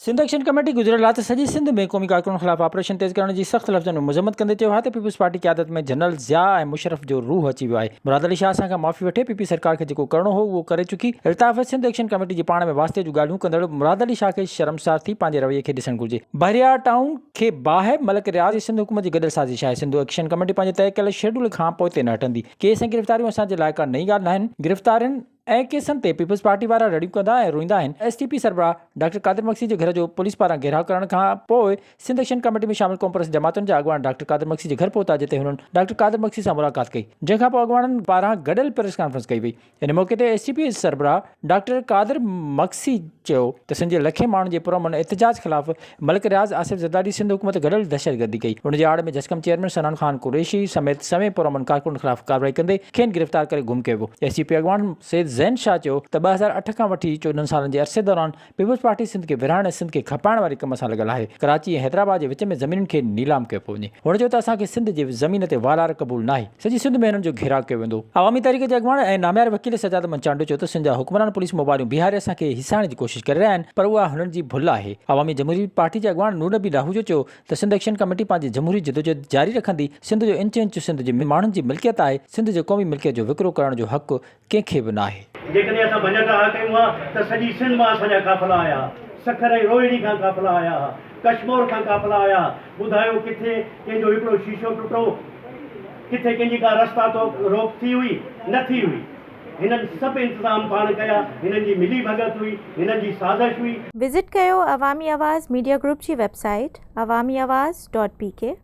Sindh action committee گذريل رات سڄي سنڌ ۾ قومي ڪارڪنن خلاف آپريشن تيز ڪرڻ جي سخت لفظن ۾ مذمت ڪندي چيو آهي ته پيپلز پارٽي قيادت ۾ جنرل ضياء ۽ مشرف جو روح اچي ويو آهي مراد علي شاهه اسان کان معافي وٺي پي پي سرڪار کي جيڪو ڪرڻو هو اهو ڪري چڪي الطاف سنڌ ايڪشن ڪميٽي جي پاڻ ۾ واسطي جون ڳالهيون ڪندڙ مراد علي شاهه کي شرمسار ٿي پنهنجي رويي کي ڏسڻ گهرجي بحريار ٽائون کي باهه ملڪ رياض جي سنڌ حڪومت جي گڏيل سازش آهي سنڌ ايڪشن ڪميٽي پنهنجي طئي ڪيل شيڊول کان پوئتي نه هٽندي ڪيس ۽ گرفتاريون اسان جي لاء ڪا نئين ڳالهه ناهن گرفتارين اهڙن ڪيسن تي پيپلز پارٽي وارا رڙيون ڪندا ۽ روئيندا آهن، ايس ٽي پي سربراهه ڊاڪٽر قادر مگسي جي گهر جو پوليس پاران گهيراء ڪرڻ کان پوء سنڌ ايڪشن ڪاميٽي ۾ شامل قومپرست جماعتن جا اڳواڻ ڊاڪٽر قادر مگسي جي گهر پهتا جتي هنن ڊاڪٽر قادر مگسي سان ملاقات ڪئي جنهن کان پوء اڳواڻن پاران گڏيل پريس ڪانفرنس ڪئي وئي ان موقعي تي ايس ٽي پي سربراهه ڊاڪٽر قادر مگسي چيو ته سنڌ جي لکين ماڻهن جي پرامن احتجاج خلاف ملڪ رياض آصف زرداري سنڌ حڪومت گڏيل دهشتگردي ڪئي، ان جي آڙ ۾ جسقم چيئرمين سنان خان قريشي سميت سوين پرامن ڪارڪنن خلاف ڪارروائي ڪندي کين گرفتار ڪري گم ڪيو ويو. ايس ٽي پي اڳواڻ سيد زين شاهه چيو ته ٻه هزار اٺ کان وٺي چوڏهن سالن جي عرصي دوران پيپلز پارٽي سنڌ کي ورهائڻ ۽ سنڌ کي کپائڻ واري ڪم سان لڳل آهي، ڪراچي ۽ حيدرآباد جي وچ ۾ زمينن کي نيلام ڪيو پيو وڃي، هن چيو ته اسان کي سنڌ جي زمين تي والار قبول ناهي. سڄي سنڌ ۾ هنن جو گهيراء ڪيو ويندو. عوامي تحريڪ جي اڳواڻ ۽ ناميار وڪيل سجاد احمد چانڊيو چيو ته سنڌ جا حڪمران پوليس موبائلون بيهاري اسان کي هيسائڻ جي ڪوشش ڪري رهيا آهن پر اها هنن جي ڀل آهي. عوامي جمهوري پارٽي جي اڳواڻ نور نبي لاهوجو چيو ته سنڌ ايڪشن ڪميٽي پنهنجي جمهوري جدوجهد جاري رکندي، سنڌ جو انچ انچ سنڌ جي ماڻهن جي ملڪيت آهي، سنڌ جي قومي ملڪيت جو وڪرو ڪرڻ جو حق ڪنهن کي به ناهي. جيڪڏهن اسان ڀڃڪ اها ڪيون ها ته سڄي سنڌ مان اسان جا قافلا آيا ها، سکر ۽ روهڙي کان قافلا آيا ها، ڪشمور کان قافلا آيا ها، ٻڌايو ڪٿي ڪنهن جو هڪڙو شيشو ٽٽو، ڪٿي ڪنهن جي ڪا رستا تو روڪ ٿي هئي، نه ٿي هئي. هنن سڀ انتظام پاڻ ڪيا، هنن جي ملي ڀڳت هئي، هنن جي سازش هئي. وزٽ ڪيو عوامي آواز ميڊيا گروپ جي website Awami Awaz dot P ڪي.